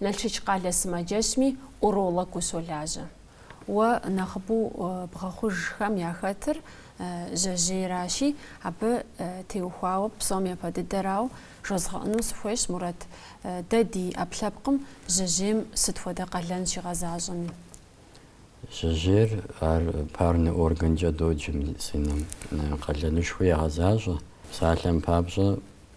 Налшыч къалэ сымаджэщми уролог ущолажьэ. Уэ нэхъыбэу бгъэхъужхэм яхэтыр жьэжьейращи, абы теухуауэ псом япэ дыдэрау жозгъэӏэну сыхуейщ, Мурат, дэ ди ӏэпкълъэпкъым жьэжьейм сыт хуэдэ къалэн щигъэзащӏэми. Жьэжьейр ар парный органкӏэ доджэ медицинэм. Къалэнышхуэ ягъэзащӏэ. Псалъэм папщӏэ,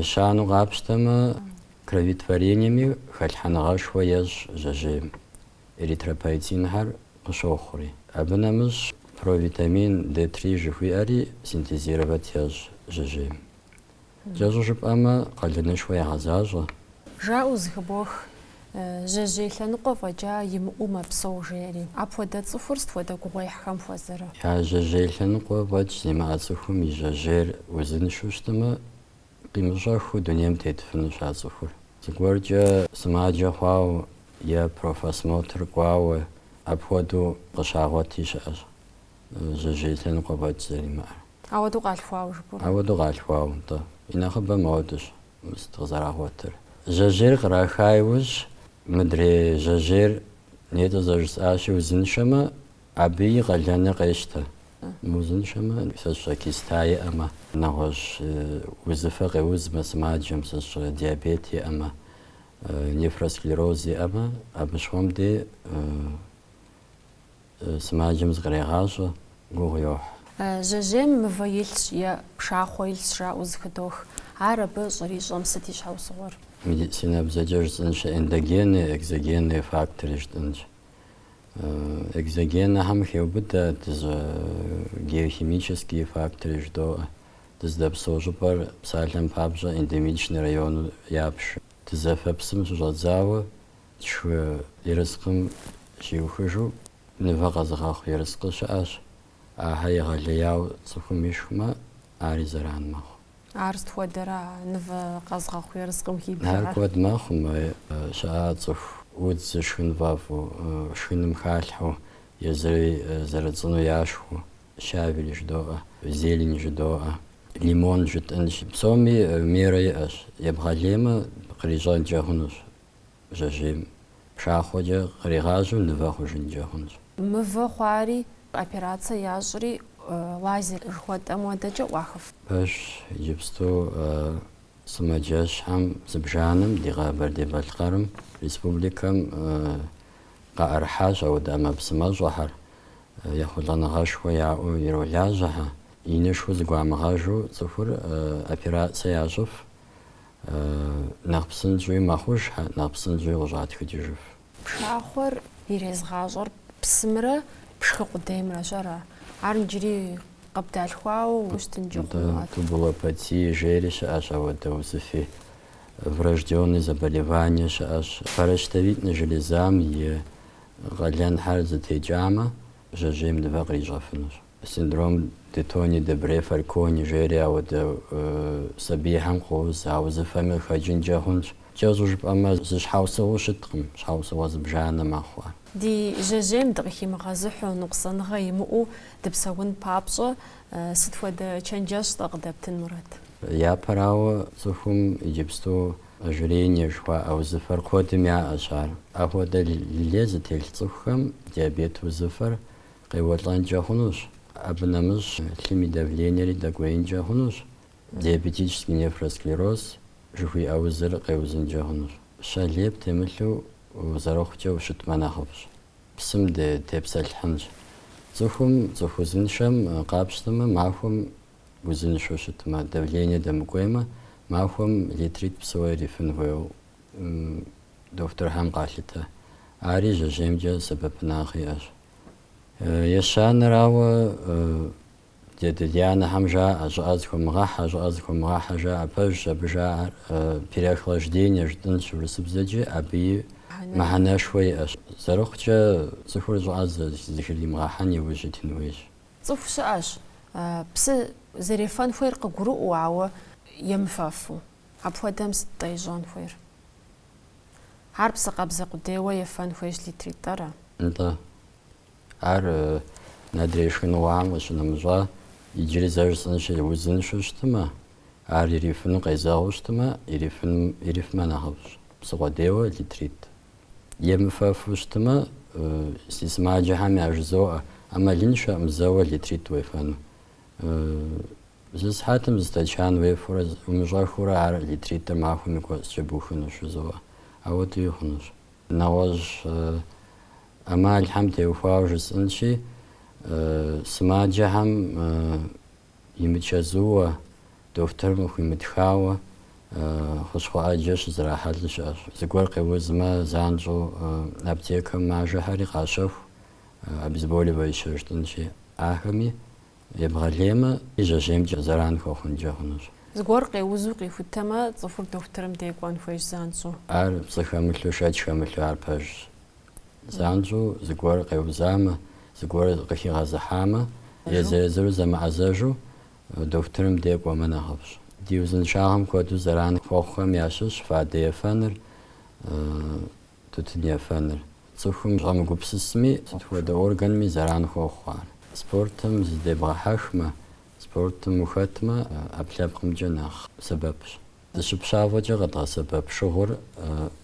Ещанэу къапщтэмэ, кроветворениеми хэлъхьэныгъэшхуэ ещӏ жьэжьейм, эритропоэтинхэр къыщохъури. Абы нэмыщӏ провитамин Д-три жыхуиӏэри синтезировать ещӏ жьэжьейм. Кӏэщӏу жыпӏэмэ, къалэнышхуэ ягъэзащӏэ. Жаӏэу зыхыбох, Жьэжьей лъэныкъуэ фӏэкӏа имыӏэу мэпсэу, жери. Апхуэдэ цӏыхур сыт хуэдэ гугъуехьхэм хуэзэрэ? А жьэжьей лъэныкъуэ фӏэкӏ зимыӏэ цӏыхум и жьэжьейр узыншэу щытмэ, къимыщӏэхыу дунейм тетыфынущ а цӏыхур. Зыгуэркӏэ сымаджэ хъуауэ е профосмотр кӏуауэ апхуэдэу къыщагъуэти щыӏэщ жьэжьей лъэныкъуэ фӏэкӏ зэримыӏэр. Ауэдэу къалъхуауэ жыпӏурэ? Ауэдэу къалъхуауэ, нтӏэ. И нэхъыбэм ауэдэщ. Сыт къызэрагъуэтыр? Жьэжьейр къраха иужь, мыдрей жьэжьейр нетӏэ зэрыжысӏащи, узыншэмэ, абы и къалэныр къещтэ. Мыузыншэмэ, сщӏэ, киста иӏэмэ, нэгъуэщӏ узыфэ къеузмэ, сымаджэм сщӏэ, диабет иӏэмэ, нефросклероз иӏэмэ, апщыгъуэм дей Сымаджэм зыкърегъащӏэ, гугъу йохь. Жьэжьейм мывэ илъщ е пшахъуэ илъщ жаӏэу зыхыдох. Ар абы щӏэрищӏэм сыт и щхьэусыгъуэр? Медицинэ бзэкӏэ жысӏэнщи, эндогеннэ, экзогеннэ фактори жытӏэнщ. Экзогеннэхэм хеубыдэ дызы- геохимически фактори жыдоӏэ. Дыздэпсэу щӏыпӏэр псалъэм папщӏэ эндемичнэ району япшэ. Дызэфэ псым щыщӏэдзауэ Тшхы ерыскъым щиухыжу мывэ къэзыгъэхъу ерыскъы щыӏэщ, ахэр егъэлеяуэ цӏыхум ишхмэ, ари зэран мэхъу. Ар сыт хуэдэ, а, мывэ къэзыгъэхъу ерыскъым хибжэр? Ар куэд мэхъу, мы щыӏа цӏыху удз шхын фӏэфӏу, шхыным халъхьэу, езыри зэрыцӏыну яшхыу, щавель жыдоӏэ, зелень жыдоӏэ, лимон жытӏынщ, псоми мерэ иӏэщ, ебгъэлеймэ, кърищӏэнкӏэ хъунущ, жьэжьейм пшахъуэкӏэ къригъажьэу мывэ хъужынкӏэ хъунщ. Мывэ хъуари, операцэ ящӏри, лазер жыхуэтӏэм уэдэкӏэ ӏуахыф. Пэжщ, иджыпсту сымаджэщхьэм зыбжанэм ди Къэбэрдей-Балъкъэрым республикэм къаӏэрыхьащ ауэдэ ӏэмэпсымэщӏэхэр, ехъулӏэныгъэшхуэ яӏэу иролажьэхьэ. Инышхуэу зыгуамыгъэжу цӏыхур операцэ ящӏыф, Нэхъ псынщӏэуи мэхъужхьэ, нэхъ псынщӏэуи къыщӏатхыкӏыжыф. Пшахъуэр ирезгъащӏэр псымрэ пшхы къудеймрэщ, ара? Ар иджыри къыбдалъхуауэ ущытынкӏэ хъуну, ат? Тубулопатии жери щыӏэщ ауэдэ узыфи. Врожденный заболевание щыӏэщ. Паращитовиднэ железам и къалэнхэр зытекӏамэ, жьэжьейм нывэ кърищӏэфынущ. Синдром де Тони Дебре-Фанкони жери ауэдэ сабийхэм къоуз, а узыфэми къыхэкӏынкӏэ хъунщ. Кӏэщӏу жыпӏэмэ, зы щхьэусыгъуэу щыткъым, щхьэусыгъуэ зыбжанэ мэхъуэ. Ди жьэжьейм дыкъыхимыгъэзыхьу, ныкъусаныгъэ имыӏэу дыпсэун папщӏэ, сыт хуэдэ чэнджэщ-тӏэ къыдэптын, Мурат? Япэрауэ, цӏыхум иджыпсту ожирение жыхуаӏэ узыфэр куэдым яӏэщ ар. Апхуэдэ лей зытелъ цӏыхухэм диабет узыфэр Къеуэлӏэнкӏэ хъунущ, абы нэмыщӏ лъым и давлениери дэкӏуеинкӏэ хъунущ, диабетический нефросклероз жыхуиӏэ узыр къеузынкӏэ хъунущ. Щэ лей птемылъу зэрыхъукӏэ ущытмэ нэхъыфӏщ. Псым дытепсэлъыхьынщ. Цӏыхум цӏыху узыншэм къапщтэмэ, махуэм узыншэу щытмэ, давление дэмыкӏуеймэ, махуэм литритӏ псыуэ ирифын хуейуэ дохутырхэм къалъытэ. Ари жьэжьеймкӏэ сэбэпынагъ иӏэщ. Ещанэрауэ, ди адэ-ди анэхэм жаӏэ, щӏыӏэ зыхомыгъэхьэ, щӏыӏэ зыхомыгъэхьэ жаӏэ пэжщ абы жаӏэр. Переохлаждение жытӏынщ урысыбзэкӏи, абыи мыхьэнэшхуэ иӏэщ. Зэрыхъукӏэ, цӏыхур щӏыӏэ зыхримыгъэхьэн и ужь итын хуейщ. Цӏыху щыӏэщ псы зэрефэн хуейр къыгурыӏуэу, ауэ емыфэфу. Апхуэдэм сыт-тӏэ ищӏэн хуейр? Ар псы къабзэ къудейуэ ефэн хуейщ литритӏ, ара? Нтӏэ. Ар надрей шхыныгъуэхэм къыщынэмыщӏа, иджыри зэ жысӏэнщи, узыншэу щытмэ, ар ирифыну къезэгъыу щытмэ, ирифмэ нэхъыфӏщ, псы къудейуэ литритӏ. Емыфэфу щытмэ, си сымаджэхэм яжызоӏэ, ӏэмалыншэкъым зэуэ литритӏ уефэну. Зы сыхьэтым зы стэчан уефэурэ умыщӏэхыурэ ар литритӏыр махуэм и кӏуэцӏкӏэ бухынущ жызоӏэ. Ауэдэуи хъунущ. Нэгъуэщӏ ӏэмалхэм теухуауэ жысӏэнщи, сымаджэхэм имычэзууэ, дохутырым къыхуимытхауэ хущхъуэ ӏэджэ щызэрахьэлӏи щыӏэщ. Зыгуэр къеузмэ, занщӏэу аптекэм мажэхэри къащэху обезболивающэ жытӏэнщи, ахэми Ебгъэлеймэ, жьэжьеймкӏэ зэран хуэхъункӏэ хъунущ. Зыгуэр къеузу къихутэмэ, цӏыхур дохутырым декӏуэн хуейщ занщӏэу. Ар пцӏы хэмылъу, шэч хэмылъу ар пэжщ. Занщӏэу зыгуэр къеузамэ, зыгуэр къыхигъэзыхьамэ, езыр-езыру зэмыӏэзэжу дохутырым декӏуэмэ нэхъыфӏщ. Ди узыншагъэм куэду зэран хуэхъухэм ящыщщ фадэ ефэныр. Тутын ефэныр цӏыхум щӏэмыгупсысми, сыт хуэдэ органми зэран хуохъу ар. Спортым зыдебгъэхьэхмэ, спортым ухэтмэ, ӏэпкълъэпкъымкӏэ нэхъ сэбэпщ. Дыщыпщафӏэкӏэ къэдгъэсэбэп шыгъур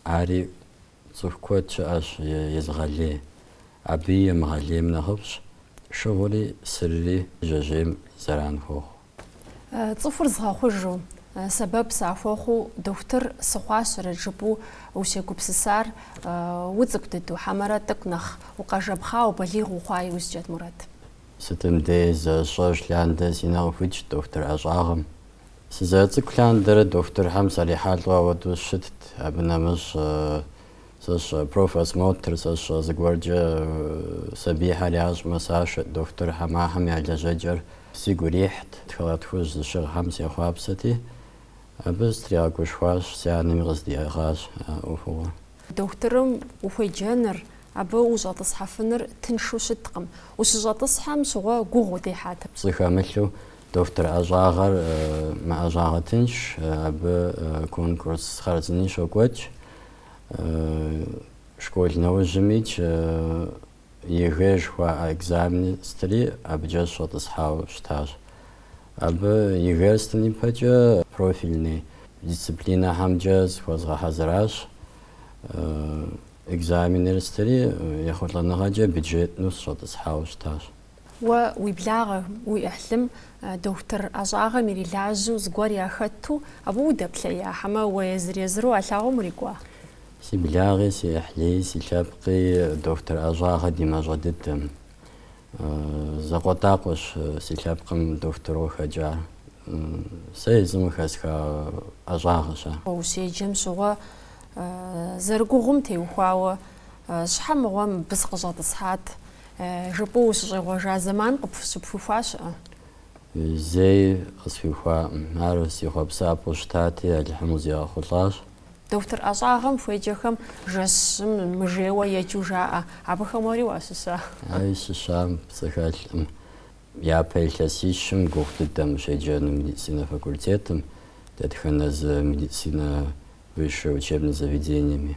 ари, цӏыху куэд щыӏэщ езыгъэлей. Абы емыгъэлейм нэхъыфӏщ, шыгъури сырри жьэжьейм зэран хуохъу. Цӏыхур згъэхъужу, сэбэп сахуэхъуу дохутыр сыхъуащэрэт жыпӏэу ущегупсысар уцӏыкӏу дыдэу, хьэмэрэ тӏэкӏу нэхъ укъэжэпхъауэ, балигъ ухъуа иужькӏэт, Мурат? Сытым дей зэщӏэж лъандэ си нэ къыхуикӏт дохутыр ӏэщӏагъэм. Сызэрыцӏыкӏу лъандэрэ дохутырхэм сарихьэлӏэу ауэдэу щытт, абы нэмыщӏ Сэщ профосмотр, сэщ зыгуэркӏэ сабийхэр ящӏмэ, сашэт дохутырхэм, ахэм я лэжьэкӏэр сигу ирихьт, халат хужь зыщыгъхэм сехъуапсэти, абы стригъэгушхуащ, си анэми къыздиӏыгъащ а ӏуэхугъуэр. Дохутырым ухуеджэныр, абы ущӏэтӏысхьэфыныр тыншу щыткъым. Ущыщӏэтӏысхьэм щыгъуэ гугъу удехьат? Пцӏы хэмылъу дохутыр ӏэщӏагъэр мыӏэщӏагъэ тыншщ, абы конкурс хъарзыни щокӏуэкӏ. школ нэужьым икӏ ЕГЭ жыхуаӏэ экзамени стри, абыкӏэ сыщӏэтӏысхьауэ щытащ. Абы ЕГЭ стын ипэкӏэ профильный дисциплинэхэмкӏэ зыхуэзгъэхьэзыращ. Экзаменыр стри, ехъулӏэныгъэкӏэ бюджетну сыщӏэтӏысхьауэ щытащ. Уэ уи благъэм, уи ӏыхьлым дохутыр ӏэщӏагъэм ирилажьэу зыгуэр яхэту абы удэплъея, хьэмэ уэ езыр-езыру а лъагъуэм урикӏуа? Си благъи, си ӏыхьлыи, си лъэпкъи дохутыр ӏэщӏагъэ ди мащӏэ дыдэм. Зэкъуэтӏакъуэщ си лъэпкъым дохутыру хэкӏар. Сэ езым къыхэсха ӏэщӏагъэщ ар. Ущеджэм щыгъуэ зэрыгугъум теухуауэ щхьэ мыгъуэ мыбы сыкъыщӏэтӏысхьат? Жыпӏэу ущыщӏегъуэжа зэман къыщыпхуихуа щыӏэ? Зэи къысхуихуакъым. Ар си хъуэпсапӏэу щытати, Алыхьым къызигъэхъулӏащ. Дохутыр ӏэщӏагъэм хуеджэхэм жэщым мыжейуэ еджэу жаӏэ. Абыхэм уэри уащыща? Ай, щыщам пцӏы хэлъкъым. Япэ илъэсищым гугъу дыдэм ущеджэну медицинэ факультетым, дэтхэнэ зы медицинэ высшее учебнэ заведениеми.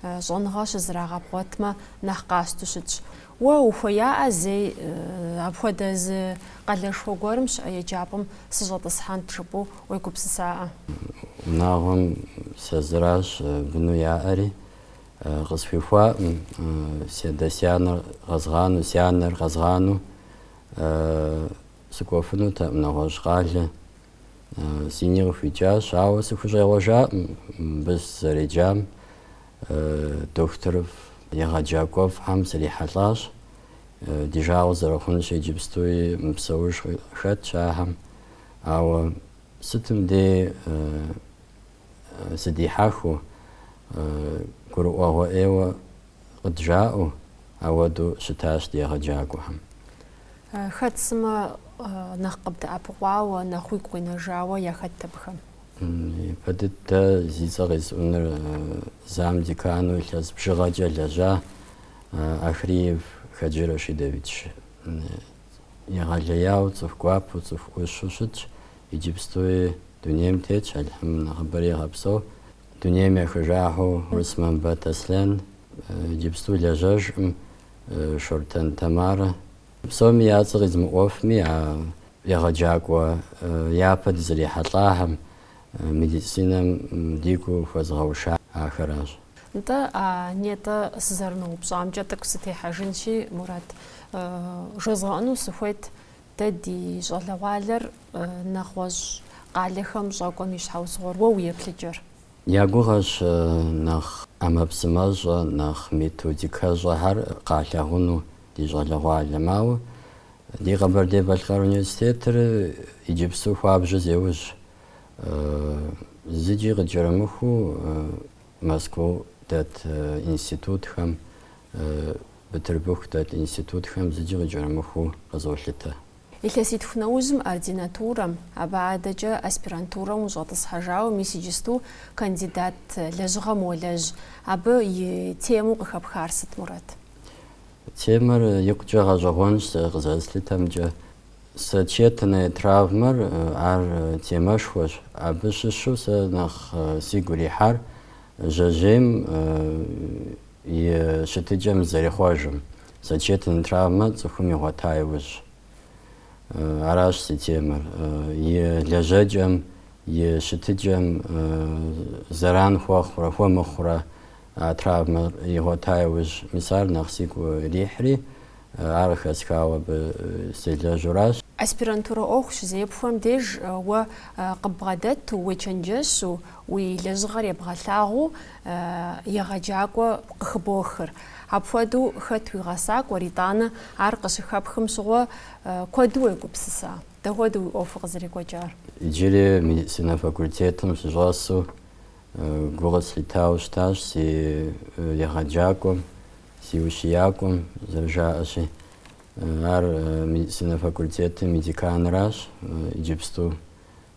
щӏэныгъэ щызрагъэбгъуэтмэ, нэхъ къащту щытщ. Уэ ухуеяӏэ зэи апхуэдэ зы къалэшхуэ гуэрым щыӏэ еджапӏэм сыщӏэтӏысхьэнт жыпӏэу уегупсысаӏэ? Унагъуэм сэ зыращ быну яӏэри, къысхуихуаӏым си адэ-си анэр къэзгъанэу, си анэр къэзгъанэу. Сыкӏуэфынутэӏым нэгъуэщӏ къалэ, Си нэ къыхуикӏащ, ауэ сыхущӏегъуэжакъым мыбы сызэреджам. Дохутырыфӏ, егъэджакӏуэфӏхэм срихьэлӏащ. Ди жагъуэ зэрыхъунщ иджыпстуи мы псэущхьи хэтщ ахэм. Ауэ сытым дей сыдихьэхыу, гурыӏуэгъуэ ӏейуэ къыджаӏэу, ауэдэу щытащ ди егъэджакӏуэхэм. Хэт сымэ нэхъ къыбдэӏэпыкъуауэ, нэхъ уигу къинэжауэ яхэт абыхэм? Ипэ дыдэ зи цӏэ къисӏуэныр замдекану илъэс бжыгъэкӏэ лэжьа Ахриев Хаджи Рашидович. Егъэлеяуэ цӏыху гуапэу, цӏыху ӏущу щытщ, Иджыпстуи дунейм тетщ Алыхьым нэхъыбэр игъэпсэу. Дунейм ехыжахэу Урысмамбэт Аслъэн, иджыпсту лэжьэжкъым Шортэн Тамарэ. Псоми я цӏэ къизмыӏуэфми, а егъэджакӏуэ япэ дызэрихьэлӏахэм, медицинэм ди гу хуэзыгъэуша ахэращ. Нтӏэ, а нетӏэ сызэрыноупщӏамкӏэ тӏэкӏу сытехьэжынщи, Мурат, жозгъэӏэну сыхуейт Дэ ди щӏалэгъуалэр нэгъуэщӏ къалэхэм щӏэкӏуэм и щхьэусыгъуэр уэ уи еплъыкӏэр? Я гугъэщ нэхъ ӏэмэпсымэщӏэ, нэхъ методикэщӏэхэр къалъагъуну ди щӏалэгъуалэм. Ауэ ди Къэбэрдей-Балъкъэр университетыр иджыпсту хуабжьу зеужь. Зыкӏи къыкӏэрымыхуу Москвэу дэт институтхэм Бытырбыху дэт институтхэм зыкӏи къыкӏэрымыхуу къызолъытэ. Илъэситху нэужьым ординатурэм, абы адэкӏэ аспирантурэм ущӏэтӏысхьэжауэ мис иджысту кандидат лэжьыгъэм уолэжь. Абы и темэу къыхэпхар сыт, Мурат? Темэр икъукӏэ гъэщӏэгъуэнщ сэ къызэрыслъытэмкӏэ. Сочетанная травмэр ар темэшхуэщ. Абы щыщу сэ нэхъ сигу ирихьар жьэжьейм и щытыкӏэм зэрихъуэжым, сочетаннэ травмэ цӏыхум игъуэта иужь. Аращ си темэр. И лэжьэкӏэм, и щытыкӏэм зэран хуэхъурэ хуэмыхъурэ а травмэр игъуэта иужь, мис ар нэхъ сигу ирихьри, Ар къыхэсхауэ абы селэжьуращ. Аспирантурэ ӏуэху щызепхуэм деж уэ къыббгъэдэту, уечэнджэщу, уи лэжьыгъэр ебгъэлъагъуу егъэджакӏуэ къыхыбохыр. Апхуэдэу хэт уи гъэсакӏуэр, итӏанэ ар къыщыхэпхым щыгъуэ куэду уегупсыса? Дапхуэдэу уи ӏуэхур къызэрекӏуэкӏар? Иджыри медицинэ факультетым сыщӏэсу гу къыслъитауэ щытащ си егъэджакӏуэм. Си ущиякӏуэм зэрыжаӏэщи, ар медицинэ факультетым и деканыращ, иджыпсту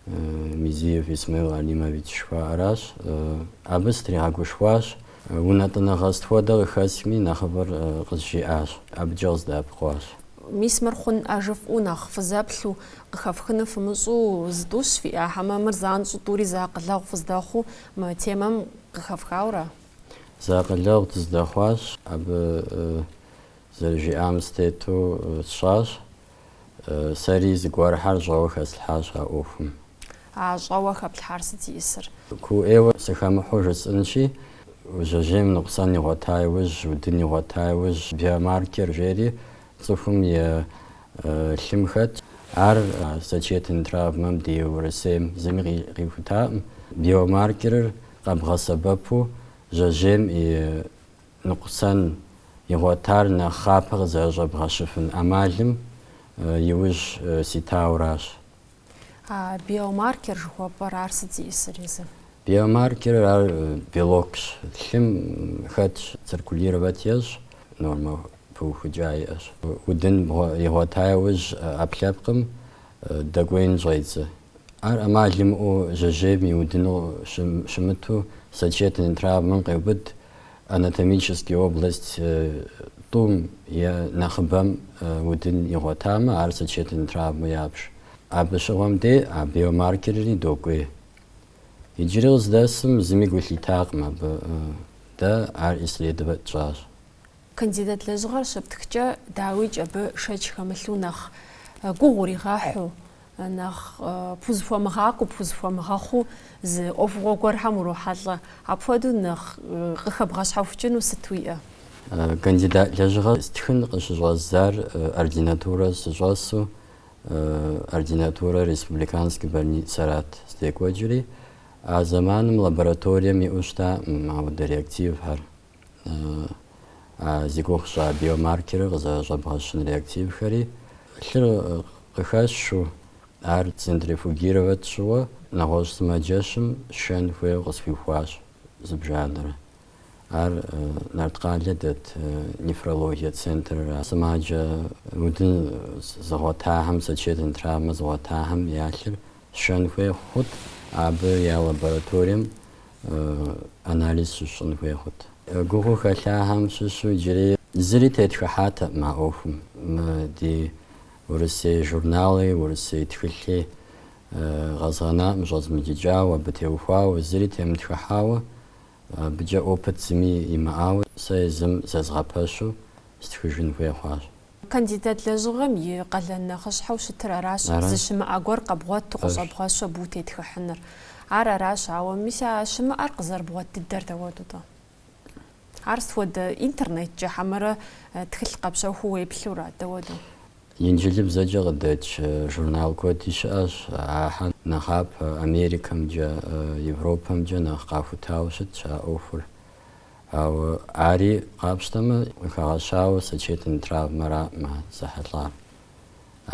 Мизиев Исмаил Алимович жыхуаӏэращ. Абы сытригъэгушхуащ. Унэтӏыныгъэ сыт хуэдэ къыхэсми, нэхъыфӏыр къызжиӏащ. Абыкӏэ къыздэӏэпыкъуащ. Мис мыр хъун ӏэ жыфӏэу, нэхъ фызэплъу, къыхэфхыну фымыщӏэу зытӏущ фиӏа хьэмэ мыр занщӏэу тӏури зэакъылэгъу фыздэхъуу мы темэм къыхэфхауэ ара? Зэакъылэгъу дыздэхъуащ, абы зэрыжиӏам сытету сщӏащ. Сэри зыгуэрхэр щӏэуэ хэслъхьащ а ӏуэхум. А щӏэуэ хэплъхьар сыт зиӏысыр? Куу ӏейуэ сыхэмыхьу жысӏэнщи, жьэжьейм ныкъусэн игъуэта иужь, удын игъуэта иужь, биомаркер жери цӏыхум и лъым хэтщ. Ар сочетаннэ травмэм ди Урысейм зыми къихутакъым. Биомаркерыр къэбгъэсэбэпу жьэжьейм и ныкъусэн игъуэтар нэхъапэ къызэрыщӏэбгъэщыфын ӏэмалым и ужь ситауращ. А биомаркер жыхуэпӏэр ар сыт зиӏысыр езы? Биомаркерыр ар белокщ, лъым хэтщ, циркулировать ещӏ, нормэ пыухыкӏа иӏэщ. Удын игъуэта иужь ӏэпкълъэпкъым дэкӏуеин щӏедзэ. Ар ӏэмал имыӏэу жьэжьейм и удыну щымыту сочетаннэ травмэм къеубыд анатомический область тӏум е нэхъыбэм удын игъуэтамэ, ар сочетаннэ травмэу ябж. Абы щыгъуэм де а биомаркерри докӏуей. Иджыри къыздэсым зыми гу лъитакъым абы, дэ ар исследовать тщӏащ. Кандидат лэжьыгъэр щыптхкӏэ, дауикӏ, абы шэч хэмылъу нэхъ гугъу уригъэхьу, Нэхъ пхузэхуэмыгъакӏуэу, пхузэхуэмыгъэхъуу зы ӏуэхугъуэ гуэрхэм урохьэлӏэ. Апхуэдэу нэхъ къыхэбгъэщхьэхукӏыну сыт уиӏэ? Кандидат лэжьыгъэр стхын къыщыщӏэздзар ординатурэ сыщӏэсу, ординатурэ республиканскэ больницэрат здекӏуэкӏри. А зэманым лабораторием иӏэу щытакъым апхуэдэ реактивхэр. а зи гугъу сщӏа биомаркерыр къызэрыщӏэбгъэщын реактивхэри. Лъыр къыхэшу, ар центрифугировать щӏыуэ, нэгъуэщӏ сымаджэщым шэн хуейуэ къысхуихуащ зыбжанэрэ. Ар Нарткъалэ дэт нефрологие центрщ. Сымаджэ удын зыгъуэтахэм, сочетаннэ травмэ зыгъуэтахэм я лъыр шэн хуей хъут, абы я лабораторием анализ щыщӏын хуей хъут. Гугъу хэлъахэм щыщу иджыри зыри тетхыхьатэкъым а ӏуэхум. Мы ди урысей журнали, урысей тхылъи къэзгъэнакъым щӏэзмыджыкӏауэ, абы теухуауэ, зыри темытхыхьауэ, абыкӏэ опыт зыми имыӏауэ сэ езым зэзгъэпэщу стхыжын хуей хъуащ. Кандидат лэжьыгъэм и къалэн нэхъыщхьэу щытыр аращ, зы щымыӏэ гуэр къэбгъуэту къыщӏэбгъэщу абы утетхыхьыныр. Ар аращ, ауэ мис а щымыӏэр къызэрыбгъуэт дыдэр дауэду-тӏэ? Ар сыт хуэдэ интернеткӏэ хьэмэрэ тхылъ къэпщэхуу уеплъурэ, дауэду? Инджылыбзэкӏэ къыдэкӏ журнал куэди щыӏэщ, ахэр нэхъапэ, Америкэмкӏэ, Европэмкӏэ нэхъ къахутауэ щытщ а ӏуэхур. Ауэ ари къапщтэмэ, къыхэгъэщауэ сочетаннэ травмэраӏым а зэхьэлӏар.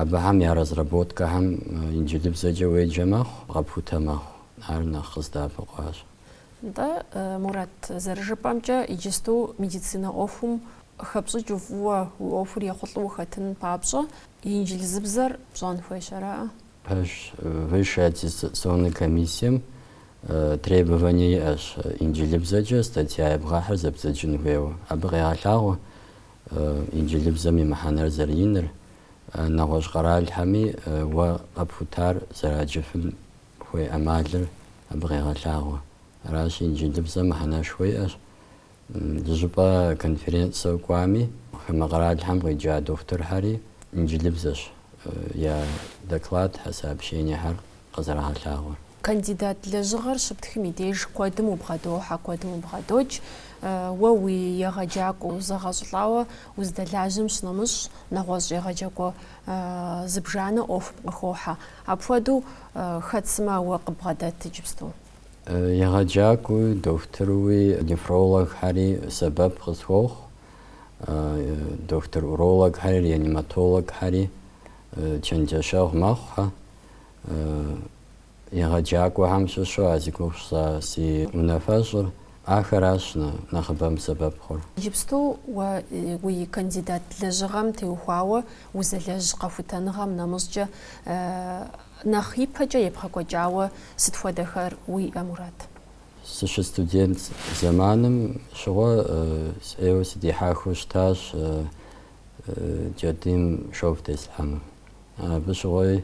Абыхэм я разработкэхэм инджылыбзэкӏэ уеджэ мэхъу, къэпхутэ мэхъу. Ар нэхъ къыздэӏэпыкъуащ. Нтӏэ, Мурат, зэрыжыпӏэмкӏэ, иджысту медицинэ ӏуэхум хэпщӏыкӏыу фӏыуэ уи ӏуэхур ехъулӏэу ухэтын папщӏэ, инджылызыбзэр пщӏэн хуейщ, араӏэ? Пэжщ, Высшэ аттестационнэ комиссием требование иӏэщ инджылыбзэкӏэ статья ебгъэхьыр зэбдзэкӏын хуейуэ. Абы къегъэлъагъуэ инджылыбзэм и мыхьэнэр зэрыиныр, нэгъуэщӏ къэралхэми уэ къэпхутар зэраджыфын хуей ӏэмалыр абы къегъэлъагъуэ. Аращи, инджылыбзэм мыхьэнэшхуэ иӏэщ. Зы щӏыпӏэ конференц укӏуами, хамэ къэралхэм къикӏа дохутырхэри инджылыбзэщ я доклад хьэ сообщениехэр къызэрагъэлъагъуэр. Кандидат лэжьыгъэр щыптхым и деж куэдым убгъэдохьэ, куэдым убгъэдокӏ. Уэ уи егъэджакӏуэ узэгъэщӏылӏауэ узыдэлажьэм щынэмыщӏ, нэгъуэщӏ егъэджакӏуэ зыбжанэ ӏуэхум къыхохьэ. Апхуэдэу хэт сымэ уэ къыбгъэдэт иджыпсту. Егъэджакӏуи, дохутыруи, нефрологхэри сэбэп къысхуохъу, дохутыр-урологхэри, реаниматологхэри чэнджэщэгъу мэхъухэ. Егъэджакӏуэхэм щыщу а зи гугъу сщӏа си унафэщӏыр, ахэращ нэхъыбэм сэбэп хъур. Иджыпсту уэ уи кандидат лэжьыгъэм теухуауэ узэлэжь къэхутэныгъэм нэмыщӏкӏэ, Нэхъ ипэкӏэ ебгъэкӏуэкӏауэ сыт хуэдэхэр уиӏэ, Мурат? Сыщыстудент зэманым щыгъуэ сэ ӏейуэ сыдихьэхыу щытащ кӏэтӏийм шов теслъхьэну. Абы щыгъуэи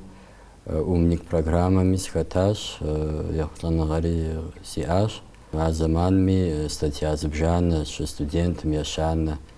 умник программэми сыхэтащ, ехъулӏэныгъэри сиӏащ. А зэманми статья зыбжанэ сыщыстудентым ещанэ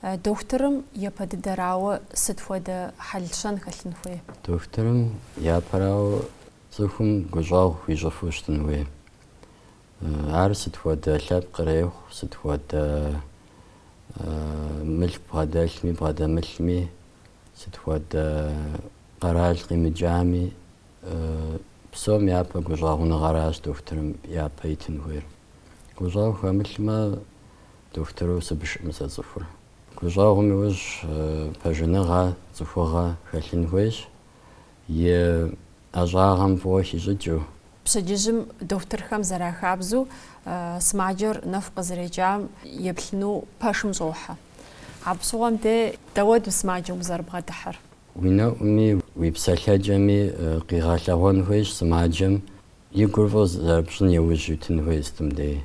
Дохутырым япэ дыдэрауэ сыт хуэдэ хьэл-щэн хэлъын хуей? Дохутырым япэрауэ цӏыхум гущӏэгъу хуищӏыфу щытын хуей. Ар сыт хуэдэ лъэпкъ ирехъу, сыт хуэдэ мылъку бгъэдэлъми бгъэдэмылъми, сыт хуэдэ къэрал къимыкӏами, псом япэ гущӏэгъуныгъэращ дохутырым япэ итын хуейр. Гущӏэгъу хэмылъмэ, Дохутыру сыбжыӏым сэ цӏыхур. Гущӏэгъум иужь пэжыныгъэ, цӏыхугъэ хэлъын хуейщ, и ӏэщӏагъэм фӏыуэ хищӏыкӏыу. Пщэдджыжьым дохутырхэм зэрахабзэу сымаджэр нэху къызэрекӏам еплъыну пэшым щӏохьэ. Апщыгъуэм де дауэдэу сымаджэм узэрыбгъэдыхьыр? Уи нэӏуми уи псэлъэкӏэми къигъэлъэгъуэн хуейщ сымаджэм и гур фӏыуэ зэрыпщӏын иужь уитын хуей сытым дей.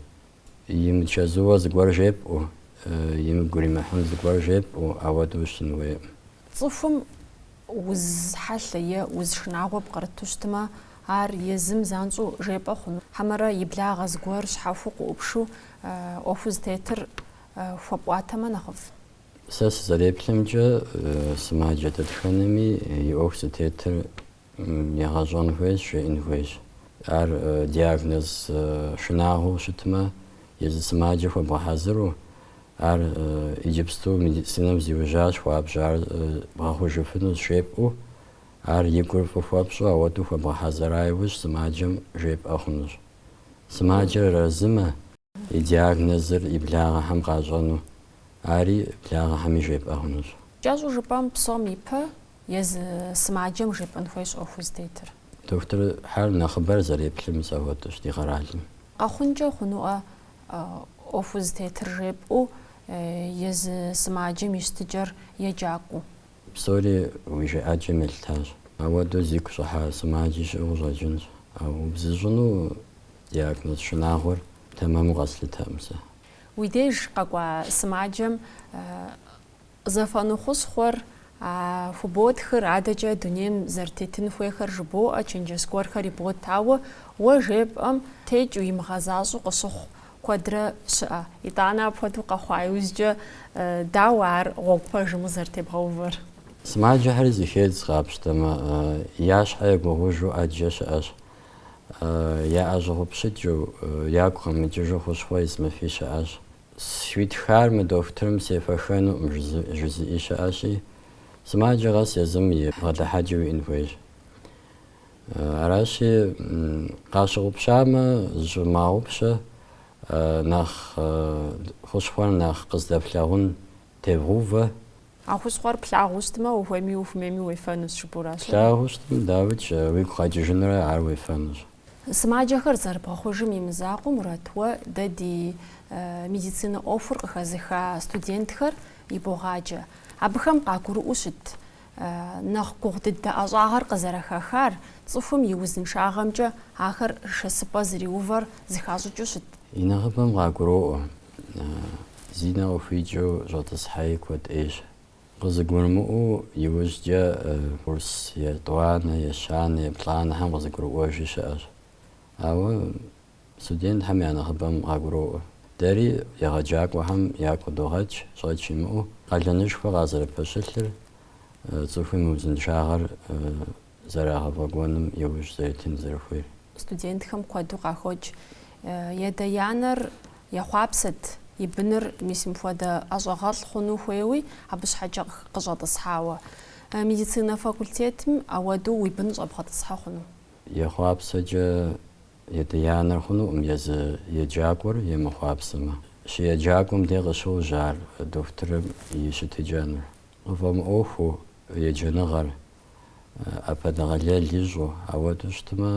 Имычэзууэ зыгуэр жепӏэу, имыгу иримыхьын зыгуэр жепӏэу, ауэдэу щытын хуейкъым. Цӏыхум уз хьэлъэ е уз шынагъуэ пкърыту щытмэ, ар езым занщӏэу жепӏэ хъуну? Хьэмэрэ и благъэ зыгуэр щхьэхуэу къыӏупшу ӏуэху зытетыр хуэпӏуатэмэ нэхъыфӏ? Сэ сызэреплъымкӏэ, сымаджэ дэтхэнэми и ӏуэху зытетыр Егъэщӏэн хуейщ, жеӏэн хуейщ. Ар диагноз шынагъуэу щытмэ, езы сымаджэ хуэбгъэхьэзыру, ар иджыпсту медицинэм зиужьащ, хуабжьу ар бгъэхъужыфыну жепӏэу, ар и гур фӏы хуэпщӏу, ауэдэу хуэбгъэхьэзыра иужь сымаджэм жепӏэ хъунущ. Сымаджэр арэзымэ, и диагнозыр и благъэхэм къащӏэну, ари благъэхэми жепӏэ хъунущ. Кӏэщӏу жыпӏэм, псом ипэ, Езы сымаджэм жепӏэн хуейщ ӏуэху зытетыр. Дохутырхэр нэхъыбэр зэреплъыр мис апхуэдэщ ди къэралым. Къэхъункӏэ хъунуӏэ ӏуэху зытетыр жепӏэу езы сымаджэм и щытыкӏэр екӏэкӏуэу? Псори уи жыӏэкӏэм елъытащ. Ауэдэу зигу щӏыхьэ сымаджи щыӏэу къыщӏэкӏынщ. Ауэ убзыщӏыну диагноз шынагъуэр тэмэму къэслъытэкъым сэ. Уи деж къэкӏуа сымаджэм Зэфэну хущхъуэр хуботхыр, адэкӏэ дунейм зэрытетын хуейхэр жыбоӏэ, чэнджэщ гуэрхэр ибот, ауэ уэ жепӏэм текӏыу, имыгъэзащӏэу къыщыхъу куэдрэ щыӏэ. Итӏанэ апхуэдэу къэхъуа иужькӏэ, дауэ ар гъуэгу пэжым зэрытебгъэувэр? Сымаджэхэри зыхедз къапщтэмэ, я щхьэ егугъужу ӏэджэ щыӏэщ. Яӏэщӏыгъупщыкӏыу, ягу къэмыкӏыжу хущхъуэ изымыфи щыӏэщ. Схуитхар мы дохутырым сефэхэнукъым, жызыӏи щыӏэщи, сымаджэ къэс езым и бгъэдыхьэкӏэ уиӏэн хуейщ. Аращи, къащыгъупщамэ, зыщумыгъэгъупщэ, нэхъ хущхъуэр нэхъ къыздэфлъагъун тевгъэувэ. А хущхъуэр плъагъуу щытмэ, ухуейми ухумейми уефэнущ, жыпӏэу аращ. Плъагъуу щытмэ, дауикӏ, уигу къэкӏыжынурэ ар уефэнущ. Сымаджэхэр зэрыбгъэхъужым и мызакъуэу, Мурат, уэ дэ ди медицинэ ӏуэхур къыхэзыха студентхэр ибогъаджэ. Абыхэм къагурыӏуэу щыт нэхъ гугъу дыдэ ӏэщӏагъэр къызэрыхахар, цӏыхум и узыншагъэмкӏэ ахэр шэсыпӏэ зэриувэр зыхащӏыкӏыу щыт? И нэхъыбэм къагуроӏуэ, зи нэ къыхуикӏыу щӏэтӏысхьаи куэд ӏейщ. Къызыгурымыӏуэу иужькӏэ курс етӏуанэ, ещанэ, еплӏанэхэм къызыгурыӏуэжи щыӏэщ. Ауэ студентхэм я нэхъыбэм къагуроӏуэ. Дэри егъэджакӏуэхэм ягу къыдогъэкӏ щӏэчэ имыӏэу къалэнышхуэ къазэрыпэщылъыр, цӏыхум и узыншагъэр Зэрагъэфӏэкӏуэным и ужь зэритын зэрыхуейр. Студентхэм куэду къахокӏ. И адэ-анэр ехъуапсэт и быныр мис мыпхуэдэ ӏэщӏагъэлӏ хъуну хуейуи, абы щхьэкӏэ къыщӏэтӏысхьауэ. Медицинэ факультетым ауэдэу уи бын щӏэбгъэтӏысхьэ хъуну? Ехъуапсэкӏэ и адэ-анэр хъунукъым езы еджакӏуэр емыхъуапсэмэ. Щыеджакӏуэм де къыщожьэ ар дохутырым и щытыкӏэнур. Къыфӏэмыӏуэхуу, Еджэныгъэр ӏэпэдэгъэлэл ищӏу ауэду щытмэ,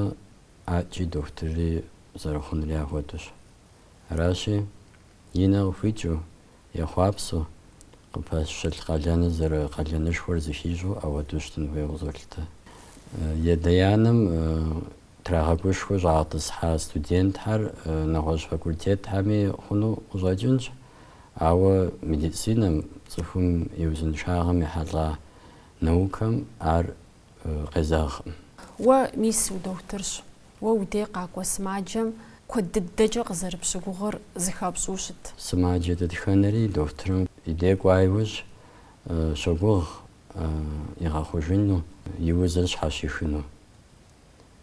адэкӏи дохутырри зэрыхъунри ахуэдущ. Аращи, и нэ къыхуикӏыу, ехъуапсэу, къыпэщылъ къалэныр зэрыкъалэнышхуэр зыхищӏэу ауэду щытын хуей къызолъытэ. Я адэ-анэм Трагъэгушхуэу щӏагъэтӏысхьа студентхэр нэгъуэщӏ факультетхэми хъуну къыщӏэкӏынщ, ауэ медицинэм, цӏыхум и узыншагъэм ехьэлӏа наукэм ар къезэгъкъым. Уэ мис удохутырщ. Уэ уи дей къакӏуэ сымаджэм куэд дыдэкӏэ къызэрыпщыгугъыр зыхэпщӏэу щыт? Сымаджэ дэтхэнэри дохутырым и дей кӏуа иужь щогугъ игъэхъужыну, и узыр щхьэщихыну.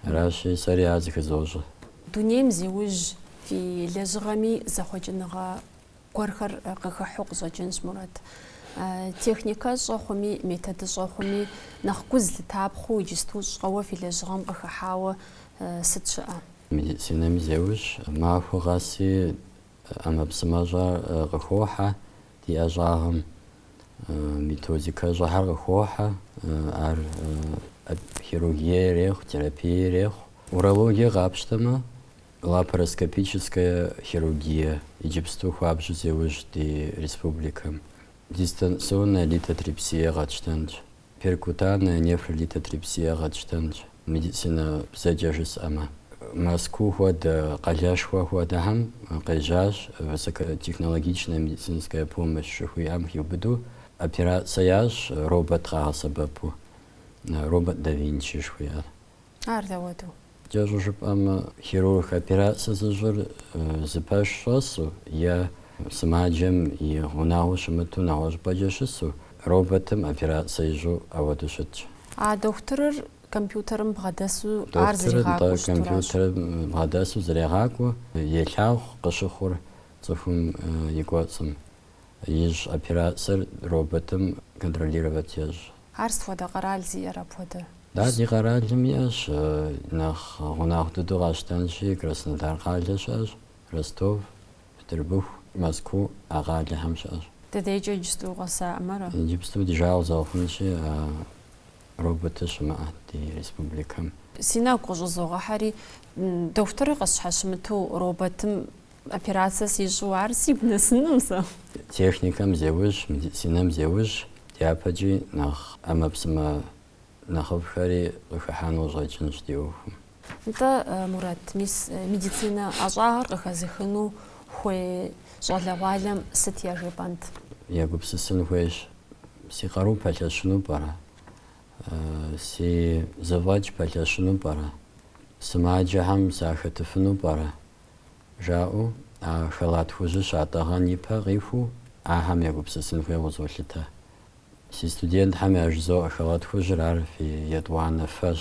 Аращи, сэри ар зыхызощӏэ. Дунейм зеужь, фи лэжьыгъэми зэхъуэкӏыныгъэ гуэрхэр къыхыхьу къыщӏэкӏынщ, Мурат. Техникэщӏэ хъуми, методыщӏэ хъуми, нэхъ гу зылъытапхъэу иджысту щӏэуэ фи лэжьыгъэм къыхыхьауэ сыт щыӏэ? Медицинэми зеужь, махуэ къэси ӏэмэпсымэщӏэр къыхохьэ, Ди ӏэщӏагъэм методикэщӏэхэр къыхохьэ, ар хирургие ирехъу, терапие ирехъу. Урологие къапщтэмэ, лапароскопическая хирургие иджыпсту хуабжьу зеужь ди республикэм. Дистанционная литотрипсие къэтщтэнщ. Перкутанная нефролитотрипсия къэтщтэнщ, медицинэ бзэкӏэ жысӏэмэ. Мэзкуу хуэдэ къалэшхуэ хуэдэхэм къежьащ высокотехнологичная медицинская помощь жыхуиӏэм хиубыду, операцэ ящӏ робот къагъэсэбэпу, робот да Винчи жыхуиӏэр. Ар дауэдэу? Кӏэщӏу жыпӏэмэ, хирург операцэ зыщӏыр зы пэш щӏэсу е сымаджэм и гъунэгъуу щымыту нэгъуэщӏыпӏэкӏэ щысу роботым операцэ ищӏу ауэду щытщ. А дохутырыр компьютерым бгъэдэсу ар зэригъакӏуэу щытуращ. Дохутырыр нтӏэ компьютерым бгъэдэсу зэрегъакӏуэ, елъагъу къыщыхъур цӏыхум и кӏуэцӏым. Ищӏ операцэр роботым контролировать ещӏ. Ар сыт хуэдэ къэрал зиӏэр апхуэдэ? Да, ди къэралым иӏэщ. Нэхъ гъунагъу дыдэу къащтэнщи, Краснодар къалэ щыӏэщ, Ростов, Петербург, Мэзкуу а къалэхэм щыӏэщ. Ди дейкӏэ иджысту къэсаӏымэрэ? Иджыпсту ди жагъуэ зэрыхъунщи, а роботыр щымыӏэ ди республикэм. Си нэгу къыщӏызогъэхьэри, дохутырыр къысщхьэщымыту роботым Операцэ сищӏу ар сигу нэсынум сэ. Техникэм зеужь, медицинэм зеужь дяпэкӏи нэхъ ӏэмэпсымэ нэхъыфӏхэри къыхыхьэну къыщӏэкӏынщ ди ӏуэхум. Нтӏэ, Мурат, мис медицинэ ӏэщӏагъэр къыхэзыхыну хуей щӏалэгъуалэм сыт яжепӏэнт? Егупсысын хуейщ, си къару пэлъэщыну пӏэрэ? Си зэфӏэкӏ пэлъэщыну пӏэрэ? Сымаджэхэм сахэтыфыну пӏэрэ? Жаӏэу, а халат хужьыр щатӏэгъэн ипэ къихуу, ахэм егупсысын хуей къызолъытэ. Си студентхэм яжызоӏэ, халат хужьыр ар фи етӏуанэ фэщ.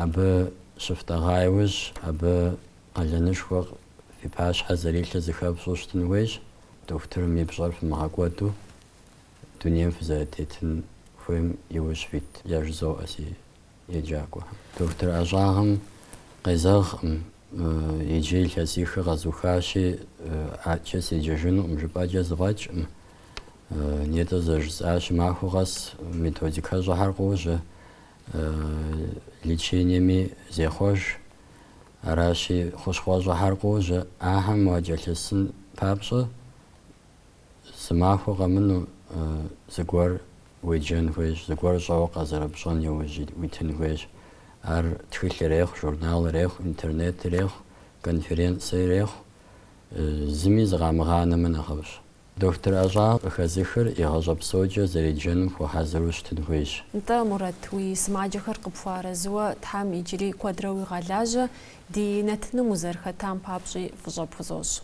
Абы щыфтӏэгъа иужь, абы къалэнышхуэ фи пащхьэ зэрилъыр зыхэфщӏу щытын хуейщ, дохутырым и пщӏэр фымыгъэкӏуэду дунейм фызэрытетын хуейм иужь фит, яжызоӏэ си Еджакӏуэ дохутыр ӏэщӏагъэм къезэгъкъым, иджы илъэсихыр къэзухащи, адэкӏэ седжэжынукъым жыпӏэкӏэ зэфӏэкӏкъым. Нетӏэ зэжысӏащи, махуэ къэс методикэщӏэхэр къожьэ, лечениеми зехъуэж. Аращи, хущхъуэщӏэхэр къожьэ. Ахэм уакӏэлъысын папщӏэ, зы махуэ къэмынэу зыгуэр Уеджэн хуейщ, зыгуэр щӏэуэ къызэрыпщӏэн иужь уитын хуейщ. Ар тхылъ ирехъу, журнал ирехъу, интернет ирехъу, конференцэ ирехъу. Зыми зыкъамыгъанэмэ нэхъыфӏщ. Дохутыр ӏэщӏагъэ къыхэзыхыр и гъащӏэ псокӏэ зэреджэным хуэхьэзыру щытын хуейщ. Нтӏэ, Мурат, уи сымаджэхэр къыпхуэарэзыуэ Тхьэм иджыри куэдрэ уигъэлажьэ, ди нэтыным узэрыхэтам папщӏи фӏыщӏэ пхузощӏ.